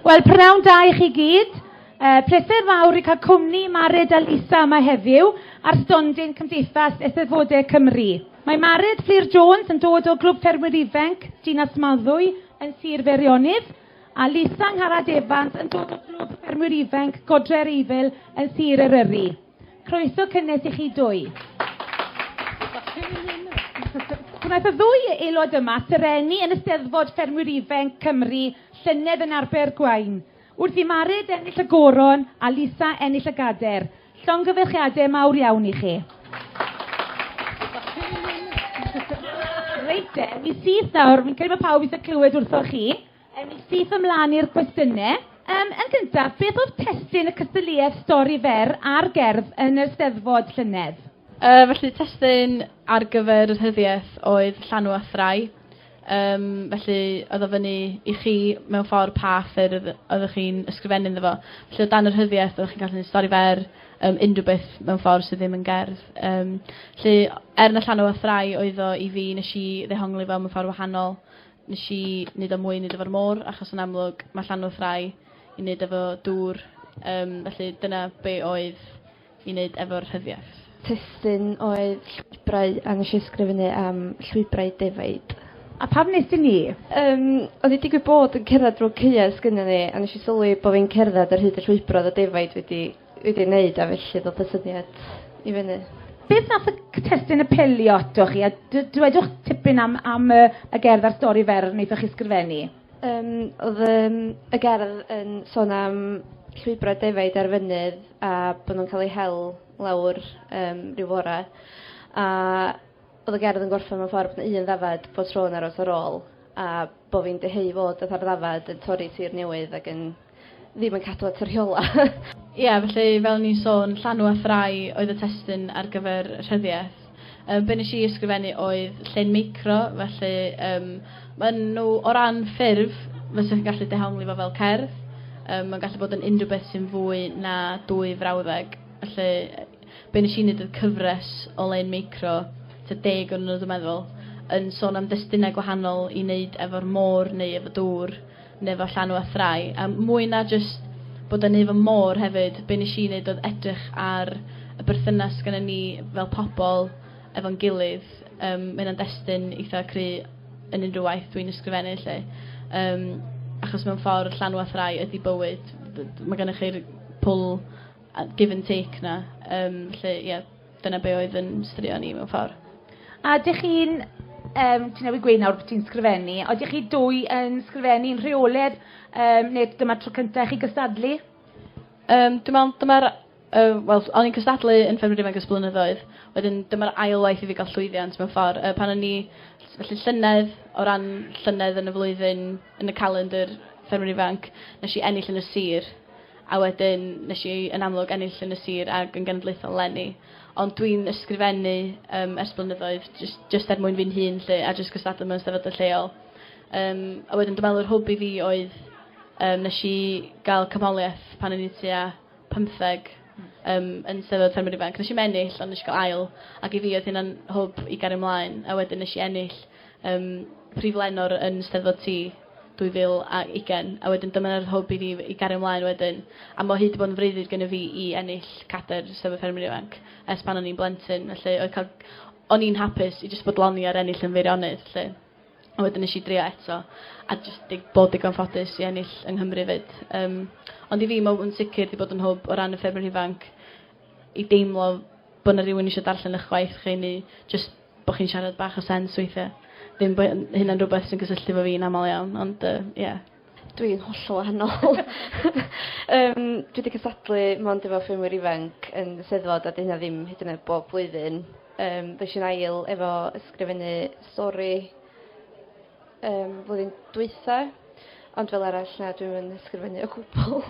Wel, prynawn da i chi gyd. Uh, pleser fawr i cael cwmni Mared a Lisa yma heddiw ar stondin Cymdeithas Eisteddfodau Cymru. Mae Mared Fflir Jones yn dod o Glwb Ffermwyr Ifanc, Dinas Maddwy, yn Sir Feirionnydd, a Lisa Ngharad Evans yn dod o Glwb Ffermwyr Ifanc, Godre'r Eifl, yn Sir Eryri. Croeso cynnes i chi dwy. Gwnaeth y ddwy aelod yma serennu yn Eisteddfod Ffermwyr Ifenc Cymru llynedd yn Abergwaun, wrth i Mared ennill y goron a Lisa ennill y gader. Llongyfarchiadau mawr iawn i chi. Reit de, mi syth nawr, fi'n credu mae pawb eisiau clywed wrthoch chi. Ewn ni syth ymlaen i'r gwestiynau. Um, yn gyntaf, beth oedd testun y cystadleuaeth stori fer a'r gerdd yn yr Steddfod llynedd? Uh, felly testun ar gyfer yr hyddiaeth oedd llanw a thrai. Um, felly oedd o fyny i chi mewn ffordd pa ffyrdd oeddech chi'n ysgrifennu iddo fo. Felly o dan yr hyddiaeth oeddech chi'n gallu gwneud stori fer, um, unrhyw beth mewn ffordd sydd ddim yn gerdd. Um, felly er na llanw a thrai oedd o i fi nes i ddehongli fo mewn ffordd wahanol. Nes i neud o mwy i neud efo'r môr achos yn amlwg ma' Llanwrth Rai i neud efo dŵr yym felly dyna be' oedd i neud efo'r rhyddiaith. Testun oedd llwybrau a nesh i ysgrifennu am llwybrau defaid. A pam nes di ni? Yym o'n i digwydd bod yn cerddad rownd caeau sgynnon ni a nesh i sylwi bo' fi'n cerddad ar hyd y llwybr o'dd y defaid wedi wedi ei wneud a felly ddod y syniad i fyny. Beth nath y testyn apelio atoch chi a dwedwch tipyn am, am y, y gerdd a'r stori fer wnaethoch chi sgrifennu? Um, oedd um, y gerdd yn sôn am llwybrau defaid ar fynydd a bod nhw'n cael eu hel lawr um, rhyw fore. A oedd y gerdd yn gorffen mewn ffordd bod un ddafad bod tro'n aros ar ôl a bod fi'n dyheu fod y ddafad yn torri tir newydd ac yn ddim yn cadw at y rheolau. Ie, felly fel o'n i'n sôn, llanw a ffrae oedd y testun ar gyfer y rhyddiaith. Yy be nes i ysgrifennu oedd llên micro, felly yym ma' nhw o ran ffurf fysa chi'n gallu dehongli fo fel cerdd. Yym ma'n gallu bod yn unrhyw beth sy'n fwy na dwy frawddeg. Felly be nes i neud oedd cyfres o lein micro, tua deg o'n nhw dw meddwl, yn sôn am destunau gwahanol i neud efo'r môr neu efo dŵr. neu efo llanw a thrai, a mwy na jyst bod yn neu fy môr hefyd, be nes i neud oedd edrych ar y berthynas sgynnon ni fel pobl efo'n gilydd, yym ma' hynna'n destun eitha cry yn unrhyw waith dwi'n ysgrifennu 'lly. Yym achos mewn ffordd llanw a thrai ydi bywyd, d- d- ma' gynnoch chi'r pull a give and take 'na, yym 'lly ie. Dyna be oedd yn straeon ni mewn ffordd. A dych chi'n, um, ti'n newid gweud nawr bod ti'n sgrifennu, a dych chi dwy yn sgrifennu yn rheoledd, um, neu dyma tro cyntaf chi gystadlu? Um, dwi'n meddwl, dyma'r Uh, Wel, o'n i'n cystadlu yn Ffermwr Ifanc ys blynyddoedd. Wedyn, dyma'r ail waith i fi gael llwyddiant mewn ffordd. Uh, pan o'n i, felly llynedd, o ran llynedd yn y flwyddyn, yn y calendr Ffermwr Ifanc, nes i ennill yn y sir. a wedyn nes i yn amlwg ennill yn y sir ag yn genedlaethol leni. Ond dwi'n ysgrifennu um, ers blynyddoedd, just, just er mwyn fi'n hun lle, a just cystadlu mewn sefydlu lleol. Um, a wedyn dwi'n meddwl yr hwb i fi oedd um, nes i gael cymholiaeth pan o'n i tua 15 um, yn sefydlu ffermwyr ifanc. Nes i mennill, ond nes i gael ail, ac i fi oedd hynna'n hwb i gario ymlaen, a wedyn nes i ennill um, prif lenor yn steddfod ti 2020 a wedyn dyma yr hwb i fi i gario mlaen wedyn a ma' hi 'di bod yn freuddwyd gynnyf fi i ennill cader Swydd y Ffermwyr Ifanc ers pan o'n i'n blentyn felly oedd cael... o'n i'n hapus i jyst bodloni ar ennill yn Feirionnydd 'lly a wedyn nes i drio eto a jyst di- bod digon ffodus i ennill yng Nghymru 'fyd yym ond i fi ma' yn sicr 'di bod yn hwb o ran y Ffermwyr Ifanc i deimlo bo' 'na rywun isio darllen 'ych gwaith chi neu jyst bo' chi'n siarad bach o sense weithie. Ddim bo' hyn- hynna'n rwbeth sy'n cysylltu 'fo fi'n amal iawn ond yy ie. Dwi yn hollol wahanol. Yym dwi 'di cysadlu mond efo ffermwyr ifanc yn y Steddfod a 'di hynna ddim hyd yn oed bob blwyddyn. Yym ddo eisiau'n ail efo ysgrifennu stori yym flwyddyn dwytha ond fel arall na dwi'm yn ysgrifennu o gwbwl.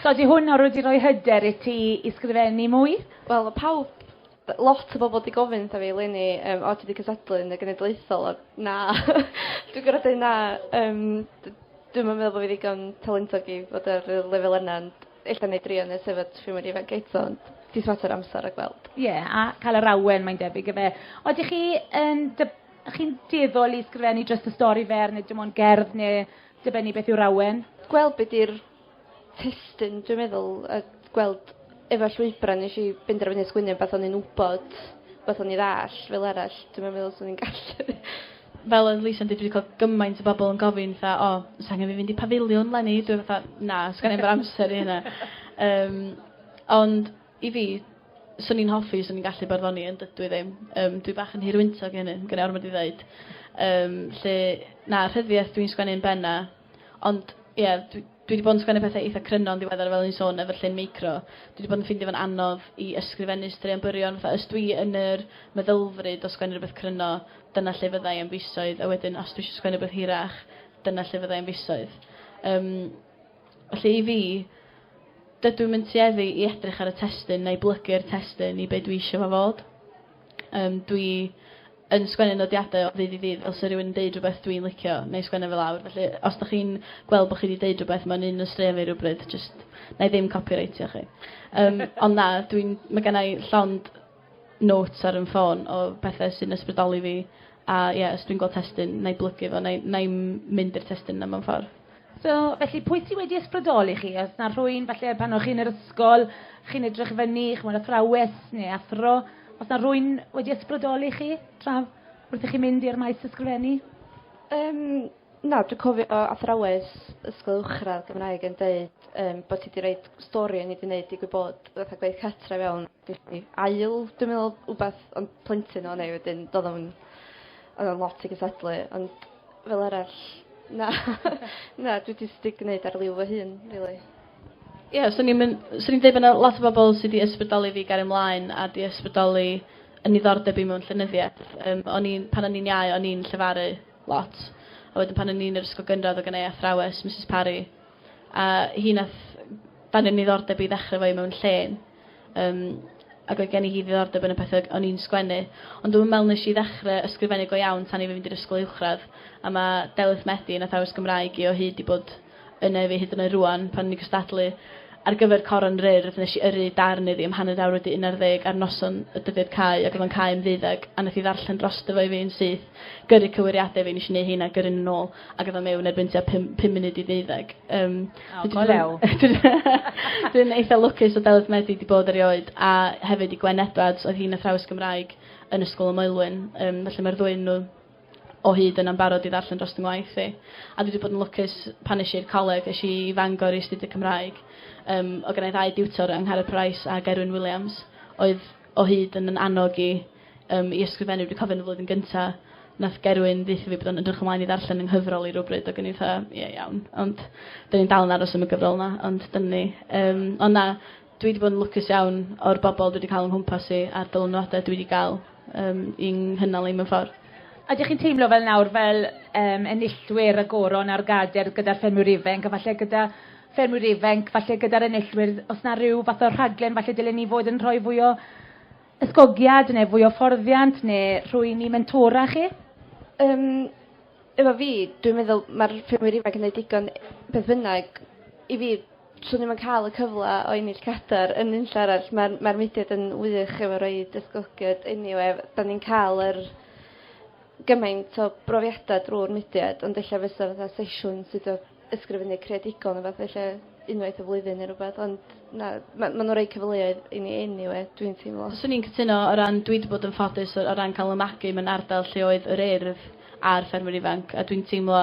So 'di hwn o rw 'di roi hyder i ti i sgrifennu mwy? Wel o' pawb Lot o bobl 'di gofyn wrtha fi eleni yym o ti 'di cystadlu yn y genedlaethol a na dwi gorod deu na yym d- dwi'm yn meddwl bo' fi ddigon talentog i fod ar y lefel yna ond ella 'nai drio nes efo dwi mor ifanc eto ond jys mater o amsar a gweld. Ie a ca'l yr awen mae'n debyg yfe? Odych chi yn dy- chi'n dueddol i sgrifennu jyst y stori fer ne' dim ond gerdd ne' dibynnu beth yw'r awen? Gweld be' 'di'r testun dwi'n meddwl a gweld efo'r llwybra' nesh i benderfynu sgwennu rwbath o'n i'n wbod beth o'n i ddall' fel arall dwi'm yn meddwl swn i'n gallu. Fel odd Lisa'n deud dwi 'di ca'l gymaint o bobol yn gofyn fatha o o's angen fi fynd i Pafiliwn 'leni? Dwi fatha na sgenna i'm yr amser i hynna. Yym ond i fi swn i'n hoffi swn i'n gallu barddoni ond dydw i ddim. Yym dwi bach yn hirwyntog i hynny ma' gennai ormod i ddeud. Yym 'lly na rhyddiaith dwi'n sgwennu yn benna Ond, ie, dwi, dwi 'di bod yn sgwennu pethau eitha cryno yn ddiweddar fel o'n i'n sôn efo llun meicro. Dwi 'di bod yn ffindio fo'n anodd i ysgrifennu straeon byrion, fatha os dwi yn yr meddylfryd o sgwennu rhywbeth cryno, dyna lle fydda i am fisoedd, a wedyn os dwi eisiau sgwennu rhywbeth hirach, dyna lle fydda i am fisoedd. Yym, felly i fi, dydw i'm yn tueddu i edrych ar y testun neu blygu'r testun i be dwi eisiau fo fod. Yym, dwi yn sgwennu nodiadau o ddydd i ddydd, fel 'se rhywun yn deud rhywbeth dwi'n licio, wna i sgwennu fe lawr. Felly, os dych chi'n gweld bod chi wedi deud rhywbeth mewn un o straeon fi rhywbryd, jyst wna i ddim copyraitio chi. Um, ond na, dwi'n, mae gen i llond notes ar yn ffôn o bethau sy'n ysbrydoli fi, a ie, yeah, os dwi'n gweld testyn, wna i blygu fo, wna i, mynd i'r testyn yna mewn ffordd. So, felly, pwy sydd wedi ysbrydoli chi? Os na rhywun, falle, pan o'ch chi'n yr ysgol, chi'n edrych fyny, chimod, athrawes neu athro, os na rhywun wedi ysbrydoli chi tra wrth i chi mynd i'r maes ysgrifennu? Um, na, dwi'n cofio uh, athrawes ysgol uwchradd Gymraeg yn dweud um, bod ti wedi rhoi stori yn ei wneud digwydd bod fatha gweith catra fewn felly ail, dwi'n meddwl, wbeth ond plentyn o'n ei wedyn, doedd o'n oedd o'n lot i gysadlu, ond Fel arall na na dwi jyst 'di gneud ar liw fy hun rili. Ie so ni'n myn- so ni'n deud bo' 'na lot o bobol sy 'di ysbrydoli fi i gario mlaen a 'di ysbrydoli 'yn niddordeb i mewn llenyddieth. Yym o'n i'n pan o'n i'n iau o'n i'n llefaru lot a wedyn pan o'n i'n yr ysgol gynradd o' gennai athrawes Misus Parry a hi nath danio'n niddordeb i ddechre efo i mewn llên. Yym ac oedd gen i hi ddiddordeb yn y pethe o'n i'n sgwennu. Ond dwi'm yn meddwl nes i ddechre ysgrifennu go iawn tan i fi fynd i'r ysgol uwchradd, a ma' Delyth Medi yn athrawes Gymraeg i o hyd 'di bod yna i fi hyd yn oed rŵan. Pan o'n i'n cystadlu ar gyfer Coron yr Urdd nes i yrru darn iddi am hanner awr wedi unarddeg ar noson y dyddiad cau ac oedd o'n cau am ddeuddeg a nath hi ddarllen drosto fo i fi yn syth. gyrru cywiriadau fi, nes i neud heina, gyrru nhw nôl, ac oedd o mewn erbyn tua pum, pum munud i ddeuddeg. Um, oh, go lew. Dwi'n eitha lwcus o Delyth Medi wedi bod erioed, a hefyd i Gwen Edwards, oedd hi'n athrawes Gymraeg yn Ysgol y Moelwyn. Um, felly mae'r ddwy nhw o hyd yn ambarod i ddarllen dros yng ngwaith i. A dwi wedi bod yn lwcus pan nes i'r coleg, nes i fangor i astudio Cymraeg. Um, o gynnau ddau diwtor yng Ngharad Price a Gerwyn Williams, oedd o hyd yn yn annog i Yym, i ysgrifennu, dwi cofio yn y flwyddyn gynta, nath Gerwyn ddeutho fi bod o'n ydrych ymlaen i ddarllen 'y nghyfrol i rywbryd ag o'n i fatha ie iawn ond 'dyn ni'n dal yn aros am y gyfrol 'na ond dyna ni. Yym ond na dwi 'di bod yn lwcus iawn o'r bobol dwi 'di ca'l o'n nghwmpas i a'r dylanwade dwi 'di ga'l yym i 'nghynnal i mewn ffor. A dych chi'n teimlo fel nawr fel yym enillwyr y goron a'r gader gyda'r ffermwyr ifenc a falle gyda ffermwyr ifenc falle gyda'r enillwyr os 'na ryw fath o rhaglen falle dylen ni fod yn rhoi fwy o Ysgogiad neu fwy o fforddiant neu rhwyn i mentora chi? Yym efo fi dwi'n meddwl ma'r ffermwyr ifanc yn neud digon beth bynnag i fi swn i'm yn ca'l y cyfla o ennill cadar yn unlle arall ma'r ma'r mudiad yn wych efo roid ysgogiad eniwe 'dan ni'n ca'l yr gymaint o brofiada drw'r mudiad ond ella fysa fatha sesiwn sydd o ysgrifennu creadigol neu fath felly unwaith y flwyddyn neu rhywbeth, ond na, ma' ma' nhw'n rhoi cyfleoedd i ni eniwe, dwi'n teimlo. Swn i'n cytuno o ran dwi 'di bod yn ffodus o ran cael 'y magu mewn ardal lle oedd yr Urdd a'r Ffermwyr Ifanc a dwi'n teimlo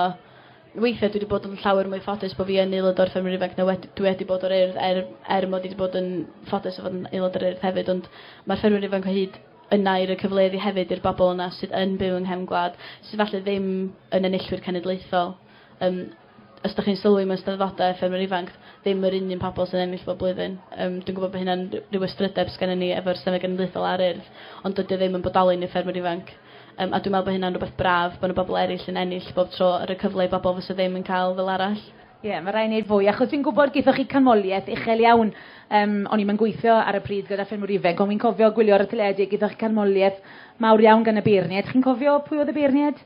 weithiau dwi 'di bod yn llawer mwy ffodus bod fi yn aelod o'r Ffermwyr Ifanc na wedi dwi wedi bod o'r Urdd er er mod i 'di bod yn ffodus o fod yn aelod o'r Urdd hefyd ond mae'r Ffermwyr Ifanc o hyd yna i roi cyfleoedd i hefyd i'r bobl yna sydd yn byw yng nghefn gwlad sydd falle ddim yn enillwyr cenedlaethol. Yym, os dach chi'n sylwi mewn Steddfodau Ffermwyr Ifanc, ddim yr un un pobl sy'n ennill bob blwyddyn. Yym, dwi'n gwybod bod hynna'n r- ryw ystrydeb sgennyn ni efo'r Senedd Genedlaethol a'r Urdd, ond dydy o ddim yn bodoli yn y Ffermwyr Ifanc. Yym, a dwi'n meddwl bod hynna'n rywbeth braf, bod 'na bobl eraill yn ennill bob tro, a rhoi cyfle i bobl fysa ddim yn cael fel arall. Ie, mae rhaid wneud fwy, achos fi'n gwybod gaethoch chi canmoliaeth uchel iawn. Yym, o'n i'm yn gweithio ar y pryd gyda Ffermwyr Ifanc, ond fi'n cofio gwylio'r teledu, gaethoch chi canmoliaeth mawr iawn gan y beirniaid. Chi'n cofio pwy oedd y beirniaid?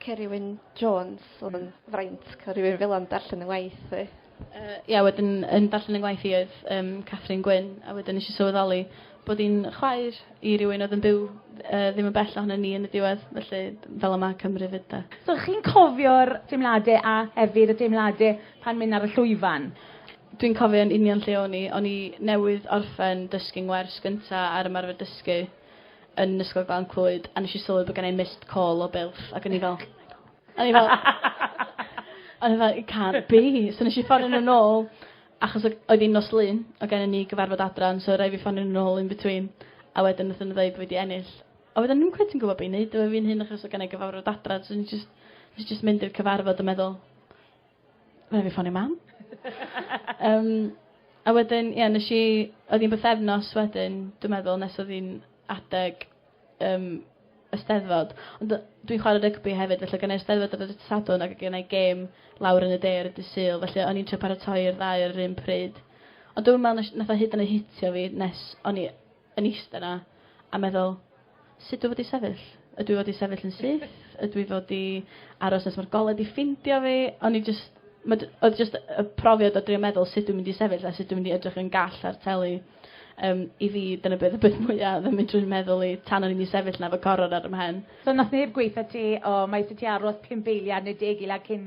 Cerwyn Jones, oedd yn fraint cael rhywun fel yna'n darllen yn ngwaith fi. Uh, ia, wedyn yn darllen yn ngwaith i oedd um, Catherine Gwyn, a wedyn eisiau sylweddoli bod hi'n chwaer i rywun oedd yn byw uh, ddim yn bell ohono ni yn y diwedd, felly fel yma Cymru fyd da. So chi'n cofio'r deimladau a hefyd y deimladau pan mynd ar y llwyfan? Dwi'n cofio yn union lle o'n i. O'n i newydd orffen dysgu'n wers gyntaf ar ymarfer dysgu. yn Ysgol Glan Clwyd a nes i sylwi bod gen i missed call o Bilff ac o'n i fel... o'n i fel... o'n i fel it can't be. So nes i ffonio nhw nôl achos o- oedd hi'n nos Lun o' gennon ni gyfarfod adran so raid fi ffonio nhw nôl in between a wedyn nathon nhw ddeud bo' fi 'di ennill. A wedyn ddim cweit yn gwbo be' i neud efo fi'n hun achos o' gennai gyfarfod adran so o'n i jyst nes i jyst mynd i'r cyfarfod a meddwl Rhaid fi ffonio mam. Yym a wedyn ie nesh i oedd hi'n bythefnos wedyn dwi'n meddwl nes oedd hi'n adeg yym y Steddfod. Ond yy dwi'n chware rygbi hefyd felly gynnai'r Steddfod ar y dydd Sadwrn ac o' gennai gêm lawr yn y de ar y dydd Sul felly o'n i'n trio paratoi'r ddau ar yr un pryd. Ond dwi'm yn me'wl nesh nath o hyd yn oed hitio fi nes o'n i yn iste 'na a meddwl Sut dwi fod i sefyll? Ydw i fod i sefyll yn syth? Ydw i fod i aros nes ma'r golau 'di ffindio fi? O'n i jyst... Ma' j- oedd jyst y profiad o drio meddwl sut dwi'n mynd i sefyll a sut dwi'n mynd i edrych yn gall ar teli yym i fi dyna be' oedd y peth mwya oedd yn mynd trwy 'm meddwl i tan o'n i mynd i sefyll 'na efo coror ar 'y mhen. So nath neb gweutha ti o mae isie ti aros pump eiliad ne' deg eiliad cyn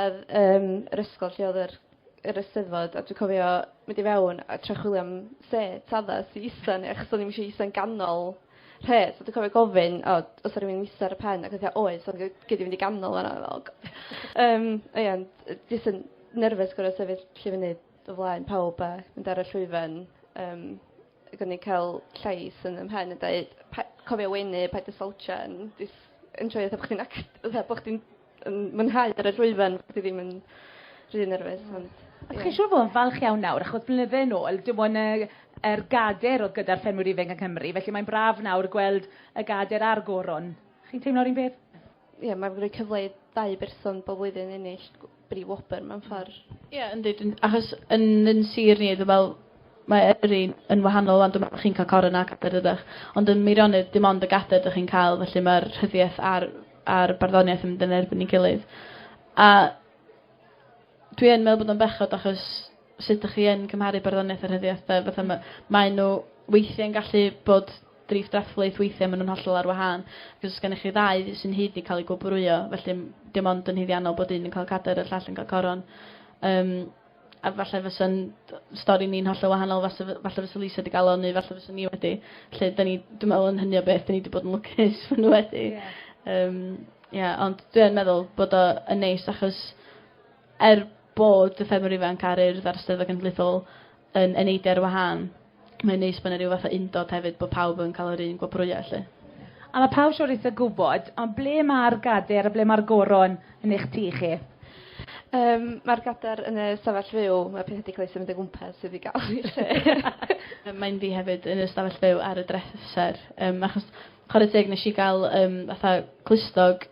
Odd yym yr ysgol lle odd yr yr Eisteddfod a dwi cofio mynd i fewn a trio chwilio am set addas i ista ne' achos o'n i'm isio isa'n ganol rhes a dwi cofio gofyn o o's 'a rywun yn ista ar y pen ag wtha oes ond gei- gei di mynd i ganol fan 'na o g-. Yym a ie ond yy jyst yn nerfus gor'o' sefyll lle fyny o flaen pawb a mynd ar y llwyfan yym ag o'n i ca'l llais yn 'y mhen yn deud pa- cofio wenu paid â slouchio yn jys enjoio fatha bo' chdi'n act- fatha bo' chdi'n yn mwynhau ar y llwyfan, fi ddim yn rhy nerfus hmm. ond... Ie. Chi'n siŵr fod yn falch iawn nawr, achos blynydde yn ôl, dim ond y yr gader oedd gyda'r ffermwyr ifanc yng Nghymru, felly mae'n braf nawr gweld y gader a'r goron. Chi'n teimlo'r un peth? Ie, mae'n rhoi cyfle i ddau berson bob blwyddyn ennill bri wobr mewn ffordd. Ie, yn dweud, achos yn yn sir ni, dwi'n meddwl, mae yrru yn wahanol ond dwi'n chi'n cael coron a cader ydych. Ond yn Meirionnydd, dim ond y gader ydych chi'n cael, felly mae'r rhyddiaeth ar a'r barddoniaeth yn mynd yn erbyn ei gilydd. A dwi yn meddwl bod o'n bechod achos sut ydych chi yn cymharu barddoniaeth a rhyddiaith de? Fatha ma, mae nhw weithiau'n gallu bod drif drafflaeth, weithiau maen nhw'n hollol ar wahân. Ac os gennych chi ddau sy'n hyd i cael ei gwobrwyo, felly dim ond yn hyddiannol bod un yn cael cader a'r llall yn cael coron. Um, a falle fysa'n d- stori ni'n hollol wahanol fase fy- falle fysa Lisa 'di ga'l o neu falle fyswn ni wedi. Lle 'dyn ni dwi me'wl yn hynny o beth 'dyn ni 'di bod yn lwcus fo' n'w wedi. Ie. Yym ie ond dwi yn meddwl bod o yn neis achos er bod y ffermwr ifanc a'r Urdd a'r Steddfod Genedlaethol yn yn neidio ar wahân Mae'n neis bod yna rhyw fath o undod hefyd, bod pawb yn cael yr un gwobrwya 'lly. A mae pawb siŵr eitha gwybod, ond ble mae'r gader a ble mae'r goron yn eich tŷ chi? Yym mae'r gader yn y stafell fyw, mae pethau 'di cael eu symud o gwmpas sydd 'di gael eu lle. Yy mae'n fi hefyd yn y stafell fyw ar y dreser, yym achos chware teg nes i gael yym fatha clustog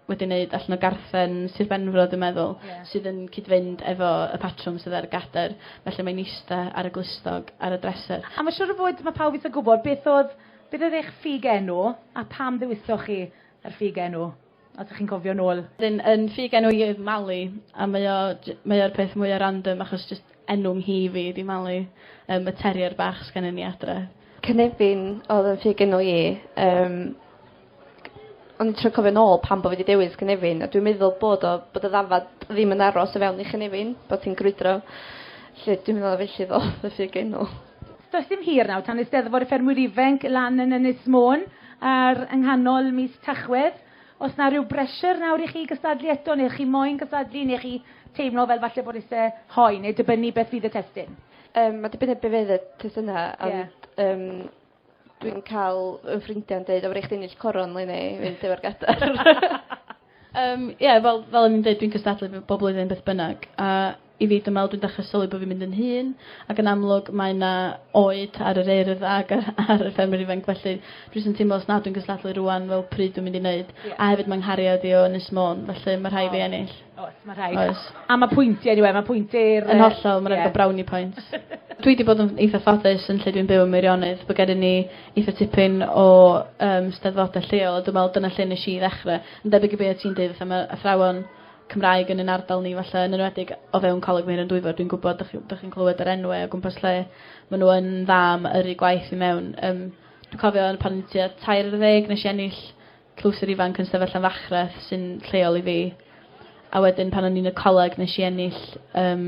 wedi wneud allan o garthen Sir Benfro dwi'n meddwl... yeah. ...sydd yn cyd-fynd efo y patrwm sydd ar y gader felly mae'n ista ar y glustog ar y dreser. A mae'n siŵr o fod mae pawb eisiau gwybod beth oedd, beth oedd eich ffug enw a pam ddewisoch chi yr ffug enw? Os ydych chi'n cofio nôl. Yn, yn ffug enw i oedd Mali a mae o, mae o'r peth mwyaf random achos just enw mhi fi di Mali, um, y terrier bach sgan ni adre. Cynefin oedd yn ffug enw i, um, O'n i'n trio cofio nôl pam bo' fi 'di dewis cynefin a dwi'n meddwl bod o bod y ddafad ddim yn aros o fewn i chynefin bot hi'n grwydro. 'Lly dwi'n meddwl felly ddoth y ffug enw. Does dim hir nawr tan Eisteddfod y Ffermwyr Ifenc lan yn Ynys Môn ar yng nghanol mis Tachwedd. Os 'na ryw bressure nawr i chi gystadlu eto neu chi moyn cystadlu neu chi teimlo fel falle bod isie hoe neu dibynnu beth fydd y testun? Yym ma' dibynnu be' fydd y testuna ond yym Dwi'n ca'l 'yn ffrindia'n deud o fedrai chdi ennill coron 'leni i fynd efo'r gadar. Yym ie fel fel o'n i'n deud dwi'n cystadlu b- bob blwyddyn beth bynnag a i fi dwi me'wl dwi'n dechre sylwi bo' fi'n mynd yn hŷn ac yn amlwg mae 'na oed ar yr Urdd ag yy ar y ffermwyr ifanc felly dwi jys yn teimlo os nad dwi'n gystadlu rŵan fel pryd dwi mynd i neud? Ie. A hefyd ma' nghariad i o Ynys Môn felly ma' rhai' fi ennill. Oes ma' rhai. Oes. A ma' pwyntie eniwe ma' pwynti'r yy... Yn hollol ma' raid ga'l brownie points. Dwi 'di bod yn eitha ffodus yn lle dwi'n byw ym Meirionnydd bo' gennon ni eitha tipyn o yym steddfode lleol a dwi me'wl dyna lle nesh i ddechre. Yn debyg i be' o' ti'n deud fatha ma' athrawon Cymraeg yn 'yn ardal ni falle yn enwedig o fewn Coleg Meirion Dwyfor dwi'n gwbod dych chi dych chi'n clywed yr enwe o gwmpas lle ma' nw yn dda am yrru gwaith i mewn yym dwi cofio yn pan o'n i tua tair ar ddeg nesh i ennill Clwstwr ifanc yn sefyll am fachreth sy'n lleol i fi. A wedyn pan o'n i'n y coleg nes i ennill um,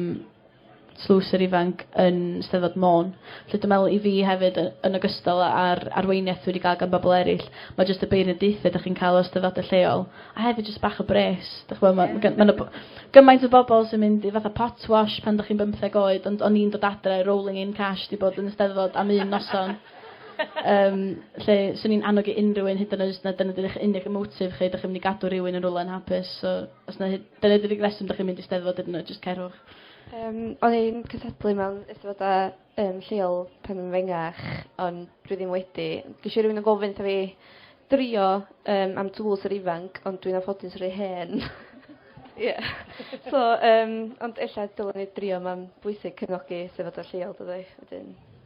tlwstwr ifanc yn Steddfod Môn. Felly dwi'n meddwl i fi hefyd, yn ogystal â'r arweiniaeth wedi cael gan bobl eraill, mae jyst y beirniadaethau ydych chi'n cael o steddfodau lleol, a hefyd jyst bach o bres. Dych chi'n meddwl, mae ma, ma gymaint o bobl sy'n mynd i fatha pot wash pan ydych chi'n bymtheg oed, ond o'n i'n dod adre, rolling in cash, di bod yn y steddfod am un noson. Yym, lle 'swn i'n annog i unrhyw un, hyd yn oed os na dyna 'di'r eich unig motive chi, dach chi'n mynd i gadw rhywun yn rywle anhapus, so os na hyd- dyna 'di'r unig reswm dach chi'n mynd i Steddfod hyd yn oed, jyst cerwch. Yym, o'n i'n cystadlu mewn Eisteddfodau yym lleol pan o'n fengach, ond dwi ddim wedi. Geshi rywun yn gofyn wrtha fi drio yym am Twls yr Ifanc, ond dwi'n anffodus rhy hen. Ie. So yym ond ella dylwn i drio ma'n bwysig cefnogi Eisteddfodau lleol dydi? Wedyn